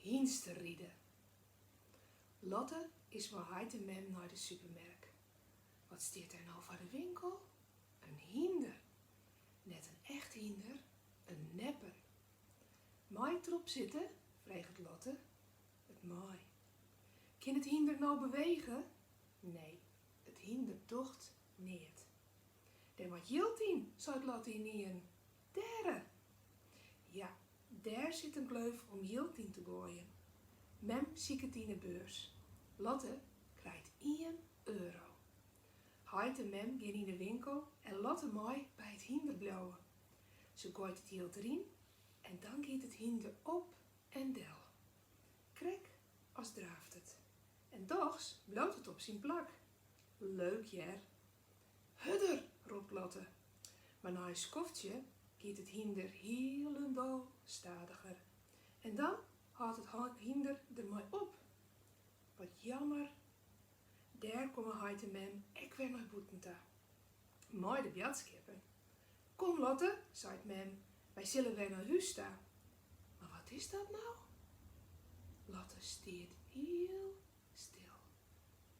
Hynsteride. Lotte is mei heit en mem nei de supermerk. Wat stiet dêr no foar de winkel? In hynder! Net in echt hynder, in nepper. Mei ik derop sitte? freget Lotte. It mei. Kin it hynder no bewege? Nee, it hynder docht neat. Dêr moat jild yn, seit Lotte ynienen. Dêre! Ja, dêr sit in gleuf om jild yn te goaien. Mem siket yn 'e beurs. Lotte krijt ien euro. Heit en Mem gean yn 'e winkel en Lotte mei by it hynder bliuwe. Se goait it jild deryn en dan giet it hynder op en del. Krekt as draaft it. En dochs bliuwt it op syn plak. Leuk hear! Hurder! ropt Lotte, mar nei in skoftsje giet it hynder hielendal stadiger en dan hâldt it hynder dermei op. Wat jammer! Dêr komme heit en mem ek wer nei bûten ta. Mei de boadskippen. Kom Lotte, seit mem, wy sille wer nei hûs ta. Mar wat is dat no? Lotte stiet hiel stil.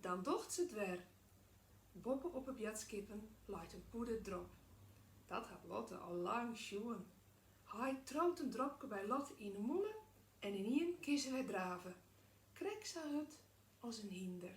Dan docht se it wer. Boppe op 'e boadskippen leit in pûde drop. Dat hat Lotte al lang sjoen. Heit triuwt in dropke by Lotte yn 'e mûle en ynienen kin se wer drave. Krekt sa hurd as in hynder.